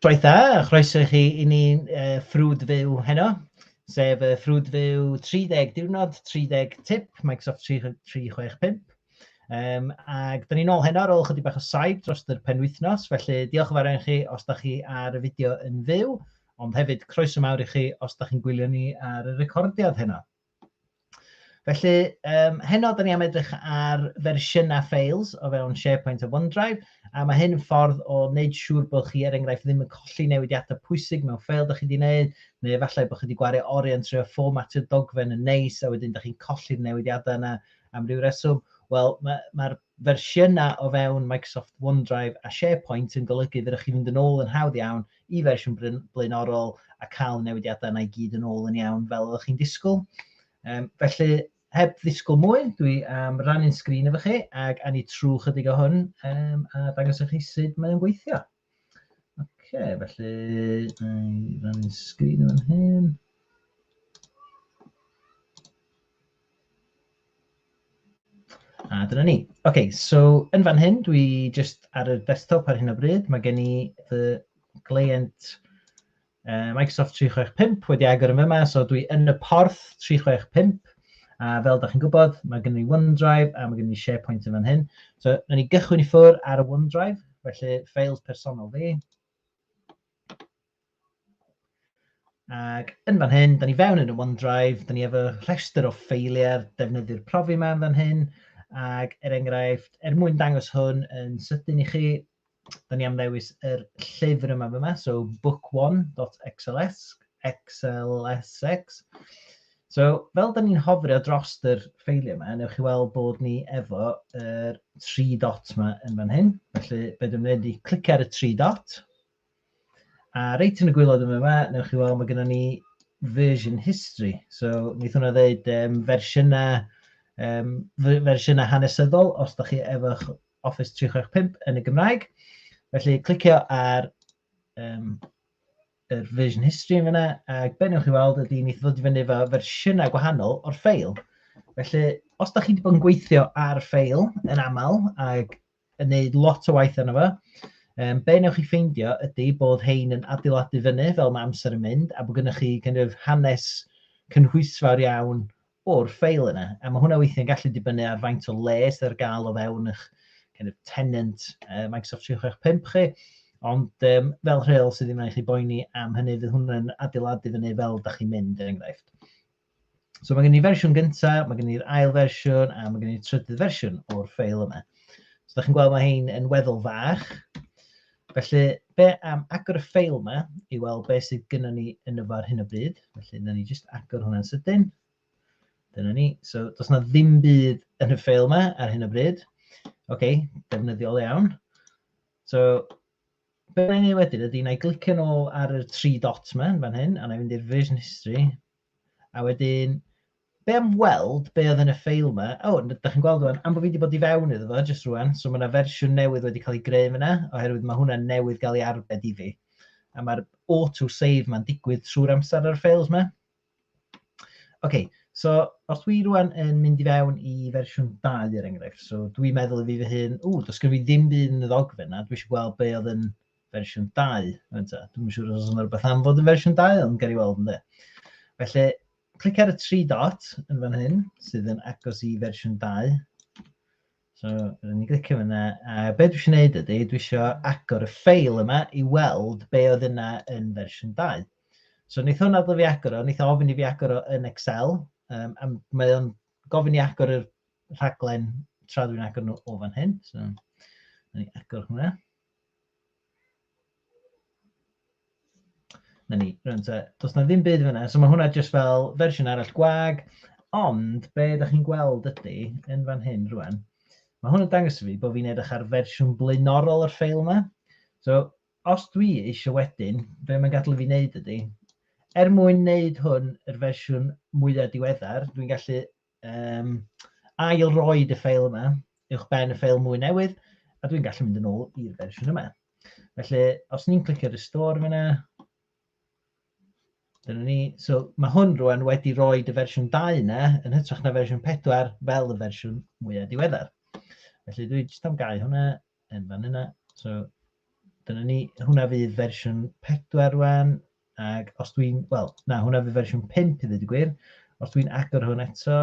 Shwmae da, a chroeso i chi i ni uh, ffrwd fyw heno, sef uh, ffrwd fyw 30 diwrnod, 30 tip, Microsoft 365. Um, ac da ni'n ôl heno ar ôl chydig bach o saib dros yr penwythnos, felly diolch yn fawr chi os da chi ar y fideo yn fyw, ond hefyd croeso mawr i chi os da chi'n gwylio ni ar y recordiad heno. Felly, um, heno da ni am edrych ar fersiynau files o fewn SharePoint a OneDrive, a mae hyn yn ffordd o wneud siŵr bod chi, er enghraifft, ddim yn colli newidiadau pwysig mewn ffeil da chi wedi gwneud, neu efallai bod chi wedi gwario oriau trwy fformatio dogfen yn neis, a wedyn da chi'n colli'r newidiadau yna am ryw reswm. Wel, mae'r ma, ma fersiynau o fewn Microsoft OneDrive a SharePoint yn golygu fydda chi fynd yn ôl yn hawdd iawn y fersiwn blaenorol a cael y newidiadau yna i gyd yn ôl yn iawn fel oeddech chi'n disgwyl. Um, felly, heb ddisgwyl mwy, dwi am um, rannu'n sgrin efo chi ac anni trwy chydig o hwn um, a dangos i chi sut mae'n gweithio. Oce, okay, felly, rannu'n sgrin yn hyn. A dyna ni. OK, so yn fan hyn, dwi jyst ar y desktop ar hyn o bryd. Mae gen i fy gleient uh, Microsoft 365 wedi agor yn fyma, so dwi yn y porth 365. A fel da chi'n gwybod, mae gen i OneDrive a mae gen i SharePoint yn fan hyn. So, na ni gychwyn i ffwr ar y OneDrive, felly ffeils personol fi. Ac yn fan hyn, da ni fewn yn y OneDrive, da ni efo rhestr o ffeiliau'r defnyddwyr profi yma yn fan hyn, ac er enghraifft, er mwyn dangos hwn yn sydyn i chi, da ni am ddewis yr llyfr yma yma, so book1.xls, xlsx. So, fel da ni'n hofrio dros yr ffeiliau yma, newch chi weld bod ni efo yr tri dot yma yn fan hyn. Felly, be dwi'n mynd i clicio ar y tri dot, A reit yn y gwylod yma yma, newch chi weld mae gennym ni version history. So, wnaeth hwnna ddeud um, fersiynau, um, fersiynau hanesyddol, os da chi efo'ch Office 365 yn y Gymraeg. Felly, clicio ar um, yr version history yn fyna, ac be newch chi weld ydy wnaeth ddod i fyny efo fersiynau gwahanol o'r ffeil. Felly, os da chi wedi bod yn gweithio ar ffeil yn aml, ac yn wneud lot o waith arno fo. Um, be wnewch chi ffeindio ydy bod hein yn adeiladu fyny fel mae amser yn mynd a bod gennych chi kind of, hanes cynhwysfawr iawn o'r ffeil yna. A mae hwnna weithiau'n gallu dibynnu ar faint o le sydd ar gael o fewn eich kind of, tenant uh, Microsoft 365 chi. Ond um, fel rheol sydd ddim yn eich boeni am hynny, fydd hwnna'n adeiladu fyny fel da chi'n mynd, er enghraifft. So mae gen i fersiwn gyntaf, mae gen i'r ail fersiwn a mae gen i'r trydydd fersiwn o'r ffeil yma. So da chi'n gweld mae hein yn weddol fach. Felly, be am agor y ffeil yma i weld beth sydd gyda ni yn y far hyn o bryd. Felly, dyna ni jyst agor hwnna'n sydyn. Dyna ni. So, does na ddim byd yn y ffeil yma ar hyn o bryd. OK, defnyddiol iawn. So, be na i wneud wedyn ydy, na i glicio nôl ar y tri dot yma, fan hyn, a na i fynd i'r version history. A wedyn, be am weld be oedd yn y ffeil yma? O, oh, da chi'n gweld rwan, am bod fi wedi bod i fewn iddo fo, jyst rwan, so mae yna fersiwn newydd wedi cael ei greu yna, oherwydd mae hwnna newydd gael ei arbed i fi. A mae'r auto-save mae'n digwydd trwy'r amser ar y ffeils yma. Ok, so os dwi rŵan yn mynd i fewn i fersiwn 2 er enghraifft, so dwi'n meddwl i fi fy hun, ww, does gen fi ddim byd yn y ddogfen yna, dwi eisiau gweld be oedd yn fersiwn 2. Dwi'n yn siŵr os yna rhywbeth am fod yn fersiwn 2, ond gael ei weld ynddo. Felly, clic ar y tri dot yn fan hyn, sydd yn agos i fersiwn 2. So, rydyn ni'n glicio fyna. A be dwi eisiau gwneud ydy, dwi eisiau agor y ffeil yma i weld be oedd yna yn fersiwn 2. So, wnaeth hwn adl fi agor o, wnaeth ofyn i fi agor o yn Excel. Um, a mae o'n gofyn i agor y rhaglen tra dwi'n agor nhw o fan hyn. So, ni agor hwnna. Na ni, rwan te. Does na ddim byd fyna. So mae hwnna jyst fel fersiwn arall gwag. Ond be da chi'n gweld ydy, yn fan hyn rwan, mae hwn yn dangos i fi bod fi'n edrych ar fersiwn blaenorol o'r ffeil yma. So os dwi eisiau wedyn, be mae'n gadw i fi wneud ydy, er mwyn wneud hwn yr fersiwn mwyaf diweddar, dwi'n gallu um, ail roed y ffeil yma, uwch ben y ffeil mwy newydd, a dwi'n gallu mynd yn ôl i'r fersiwn yma. Felly, os ni'n clicio restore fyna, dyna ni. So, mae hwn rwan wedi rhoi y fersiwn 2 yna, yn hytrach na fersiwn 4, fel y fersiwn mwyaf diweddar. Felly, dwi'n jyst am gau hwnna, yn fan yna. So, dyna ni. Hwna fydd fersiwn 4 rwan. Ac os dwi'n... Wel, na, hwnna fydd fersiwn 5 i ddweud y gwir. Os dwi'n agor hwn eto...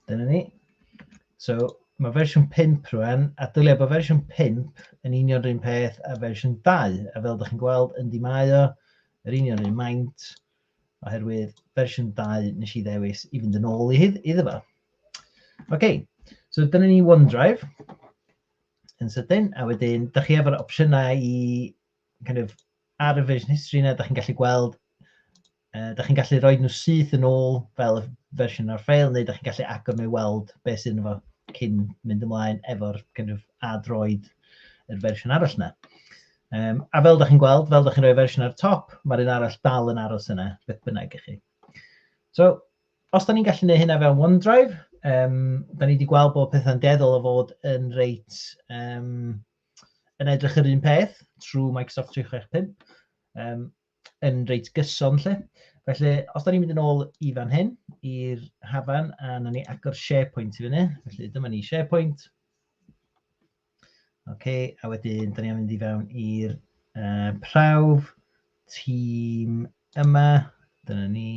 Dyna ni. So, mae fersiwn 5 rwan, a dylia bod fersiwn 5 yn union rhywun peth a fersiwn 2. A fel ydych chi'n gweld, yndi mae o, yr union rhywun maint. oherwydd fersiwn 2 nes i ddewis i fynd yn ôl i hyd, iddo fo. Oce, okay. so dyna ni OneDrive yn sydyn, a wedyn, da chi efo'r opsiynau i kind of, ar y version history yna, da chi'n gallu gweld, uh, da chi'n gallu rhoi nhw syth yn ôl fel y fersiwn o'r ffeil, neu da chi'n gallu agor nhw i weld beth sydd yn fo cyn mynd ymlaen efo'r kind of, a droed yr fersiwn arall yna. Um, a fel da chi'n gweld, fel da chi'n rhoi fersiwn ar y top, mae'r un arall dal yn aros yna, beth bynnag i chi. So, os da ni'n gallu gwneud hynna fewn OneDrive, um, da ni wedi gweld bod pethau'n deddol o fod yn reit um, yn edrych yr un peth trwy Microsoft 365, um, yn reit gyson lle. Felly, os da ni'n mynd yn ôl i fan hyn, i'r hafan, a na ni agor SharePoint i fyny, felly dyma ni SharePoint, OK, a wedyn, da ni am mynd i fewn i'r uh, prawf, tîm yma, dyna ni.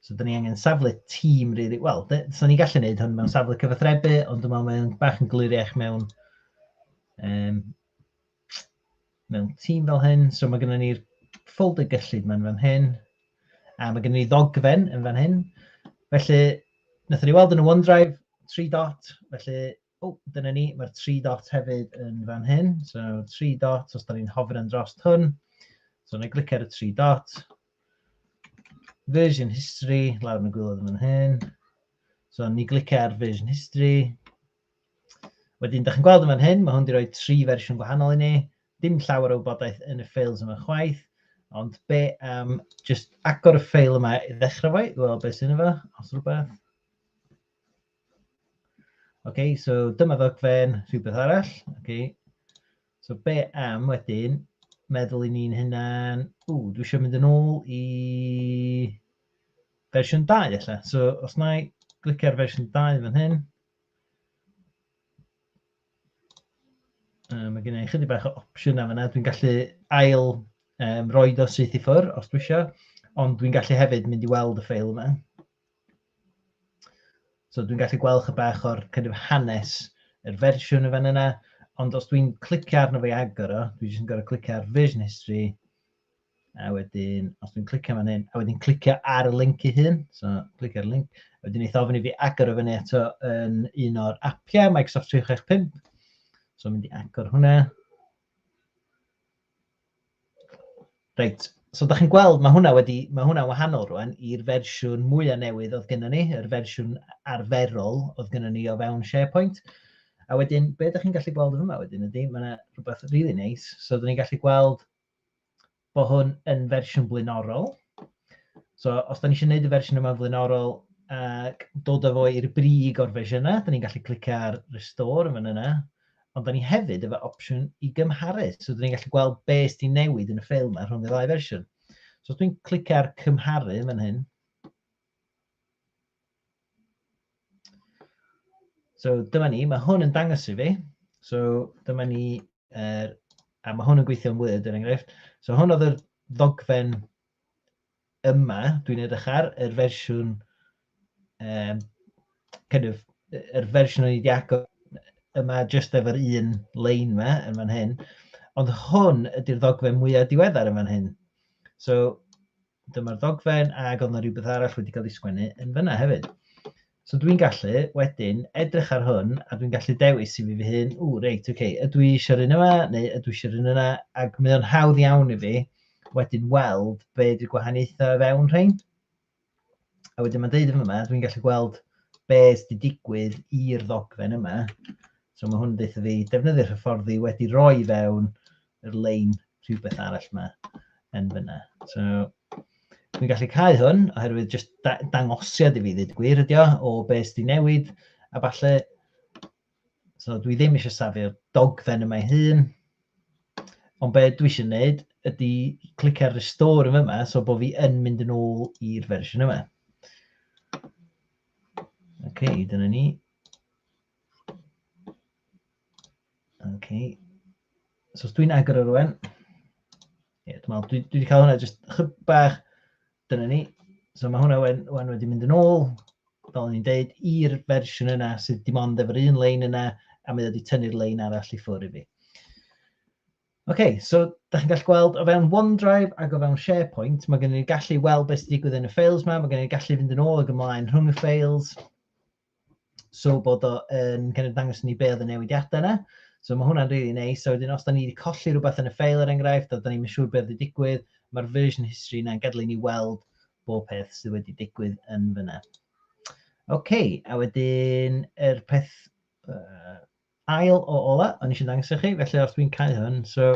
So, da ni angen safle tîm, really. Wel, so ni gallu gwneud hwn mewn safle cyfathrebu, ond dwi'n meddwl mae'n bach yn gliriach mewn, um, mewn tîm fel hyn. So, mae gennym ni'r ffolder gyllid mae'n fan hyn, a mae gennym ni ddogfen yn fan hyn. Felly, wnaethon ni weld yn y OneDrive, tri dot, felly O, dyna ni, mae'r tri dot hefyd yn fan hyn. So, tri dot, os da ni'n hofr yn dros hwn. So, na i glicio ar y tri dot. Version history, lawr yn y gwylod yn fan hyn. So, ni glicio ar version history. Wedyn, da chi'n gweld yn fan hyn, mae hwn wedi rhoi tri fersiwn gwahanol i ni. Dim llawer o wybodaeth yn y ffeils yma chwaith. Ond be, um, just agor y ffeil yma i ddechrau fo, i weld beth sy'n efo, os rhywbeth. OK, so dyma ddogfen, rhywbeth arall. OK. So be am wedyn, meddwl i ni'n hynna'n, ww, dwi eisiau mynd yn ôl i fersiwn 2 efallai. So os na i glicio ar fersiwn 2 fan hyn, Um, mae gen i chydig bach o opsiynau fyna. Dwi'n gallu ail um, roed o syth i ffwr os dwi eisiau, ond dwi'n gallu hefyd mynd i weld y ffeil yma. So dwi'n gallu gweld chyda bach o'r kind of hanes yr fersiwn y fan yna, ond os dwi'n clicio arno fe agor o, dwi'n jyst yn gorau clicio ar version history, a wedyn, os dwi'n clicio fan hyn, a wedyn clicio ar y link i hyn, so clicio ar y link, a wedyn eith ofyn i fi agor o fyny eto yn un o'r apiau, Microsoft 365, so mynd i agor hwnna. Reit, so da chi'n gweld, mae hwnna wedi, mae hwnna wahanol rwan i'r fersiwn mwy a newydd oedd gennym ni, yr fersiwn arferol oedd gennym ni o fewn SharePoint. A wedyn, be ydych chi'n gallu gweld yn yma wedyn ydy, mae yna rhywbeth rili really neis. Nice. So, ydych chi'n gallu gweld bod hwn yn fersiwn blaenorol. So, os da ni eisiau gwneud y fersiwn yma'n flaenorol ac dod â fo i'r brig o'r fersiynau, da ni'n gallu clicio ar Restore yn fan yna. Ond da ni hefyd efo opsiwn i gymharu. So, da ni'n gallu gweld be sydd wedi newid yn y ffeil yma rhwng y ddau fersiwn. So, os dwi'n clicio ar cymharu yn fan hyn, So dyma ni, mae hwn yn dangos i fi. So dyma ni, er, a mae hwn yn gweithio yn Word er enghraifft. So hwn oedd yr ddogfen yma, dwi'n edrych ar yr fersiwn um, kind of, yr fersiwn o'n i wedi agor yma just efo'r un lein yma yn fan hyn. Ond hwn ydy'r ddogfen mwyaf diweddar yn fan hyn. So, dyma'r ddogfen ac oedd yna rhywbeth arall wedi cael ei sgwennu yn fyna hefyd. So dwi'n gallu wedyn edrych ar hwn a dwi'n gallu dewis i fi fy hun, ww reit, ok, ydw i eisiau'r un yma neu ydw i eisiau'r un yna, ac mae o'n hawdd iawn i fi wedyn weld be ydy'r gwahaniaethau o fewn rhain. A wedyn mae'n deud yn yma, dwi'n gallu gweld be sydd wedi digwydd i'r ddogfen yma. So mae hwn yn deitha fi defnyddio'r hyfforddi wedi roi fewn yr lein rhywbeth arall yma yn fyna. So, dwi'n gallu cael hwn, oherwydd jyst da dangosiad i fi ddweud gwir ydi o, o beth sydd wedi newid, a falle, so dwi ddim eisiau safio'r dogfen yma ei hun, ond beth dwi eisiau gwneud ydy clic ar restore yn yma, so bod fi yn mynd yn ôl i'r fersiwn yma. OK, dyna ni. Okay. So os dwi'n agor o rwan, ie, dwi'n meddwl, dwi, dwi wedi cael hwnna jyst chyb bach, dyna ni. So mae hwnna wen, wen wedi mynd yn ôl, fel ni'n deud, i'r fersiwn yna sydd dim ond efo'r un lein yna, a mae wedi tynnu'r lein arall i ffwrdd i fi. Oce, okay, so da chi'n gallu gweld o fewn OneDrive ac o fewn SharePoint, mae gen i'n gallu weld beth sydd wedi digwydd yn y ffeils yma, mae gen i'n gallu fynd yn ôl ac ymlaen rhwng y ffeils, So bod o yn kind of dangos ni be oedd y newidiadau yna. So mae hwnna'n really neis. So wedyn os da ni wedi colli rhywbeth yn y ffeil er enghraifft, a da ni'n siŵr beth wedi digwydd, mae'r version history yna'n gadw ni weld bob peth sydd wedi digwydd yn fyna. OK, a wedyn yr peth uh, ail o ola, o'n eisiau dangos i chi, felly os dwi'n cael hwn, so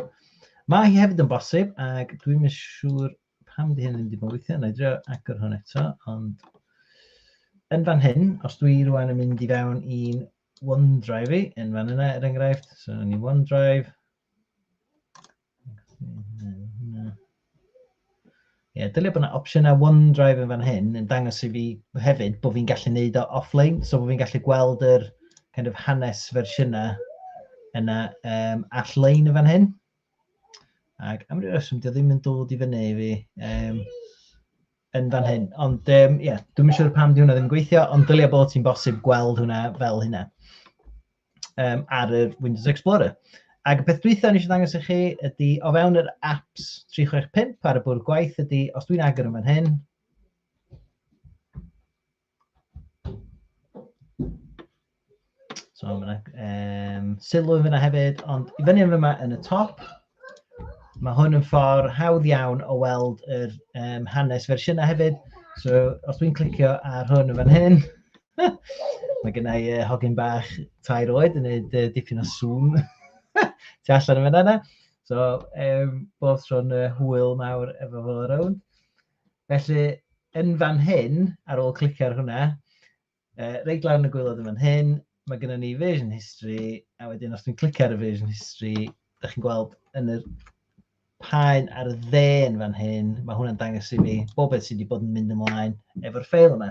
mae hi hefyd yn bosib, ac dwi'n mynd siŵr pam di hyn ddim wedi bod yn gweithio, na i drio agor hwn eto, ond yn fan hyn, os dwi rwan yn mynd i fewn i'n OneDrive i, yn fan yna er enghraifft, so yn i OneDrive, Ie, dylai bod yna opsiynau OneDrive yn fan hyn yn dangos i fi hefyd bod fi'n gallu neud o offline, so bod fi'n gallu gweld yr kind of hanes fersiynau yna um, all-lein yn fan hyn. Ac am ryw reswm, dio ddim yn dod i fyny i fi um, yn fan hyn. Ond ie, um, yeah, dwi'n siŵr pam di hwnna ddim yn gweithio, ond dylia bod ti'n bosib gweld hwnna fel hynna um, ar y Windows Explorer. Ac y peth dwytha ni eisiau dangos i chi ydy, o fewn yr apps 365 ar y bwrdd gwaith ydy, os dwi'n agor yn fan hyn, So mae yna um, sylw yn fyna hefyd, ond i fyny yn fyma yn y top, mae hwn yn ffordd hawdd iawn o weld yr um, hanes fersiynau hefyd. So os dwi'n clicio ar hwn yn fan hyn, mae gennau uh, hogyn bach tair oed yn gwneud uh, dipyn o sŵn tu allan yn fan yna. So um, bob tro'n uh, hwyl mawr efo fo rownd. Felly, yn fan hyn, ar ôl clicio ar hwnna, uh, reit lawr yn y gwylod yn fan hyn, mae gennym ni version history, a wedyn os dwi'n clicio ar y version history, ydych chi'n gweld yn yr paen ar y dde yn fan hyn, mae hwnna'n dangos i mi bob beth sydd wedi bod yn mynd ymlaen efo'r ffeil yma.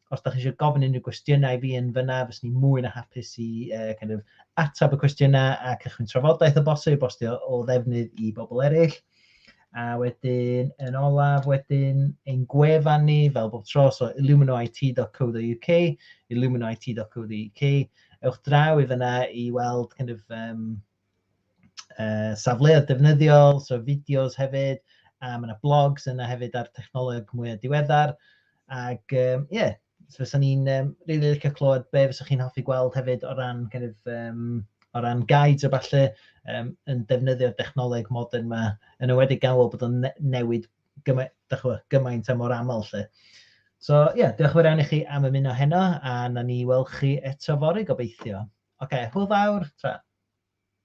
os da chi eisiau gofyn unrhyw gwestiynau i fi yn fyna, fyswn i'n mwy na hapus i uh, kind of, atab y cwestiynau a cychwyn trafodaeth o bosib os dio o ddefnydd i bobl eraill. A wedyn, yn olaf, wedyn, ein gwefan ni, fel bob tro, so illuminoit.co.uk, illuminoit.co.uk, ewch draw i fyna i weld kind of, um, uh, safleoedd defnyddiol, so fideos hefyd, a mae yna blogs yna hefyd ar technoleg mwy o diweddar. Ac ie, um, yeah, so fysa ni'n um, really licio clywed be fysa chi'n hoffi gweld hefyd o ran, kind of, um, o ran guides o falle um, yn defnyddio'r dechnoleg modern yma, yn ywedig gan weld bod o'n newid gymaint, gymaint a mor aml lle. So ie, yeah, diolch yn fawr i chi am ymuno heno a na ni weld chi eto fori gobeithio. Oce, okay, hwyl fawr, tra.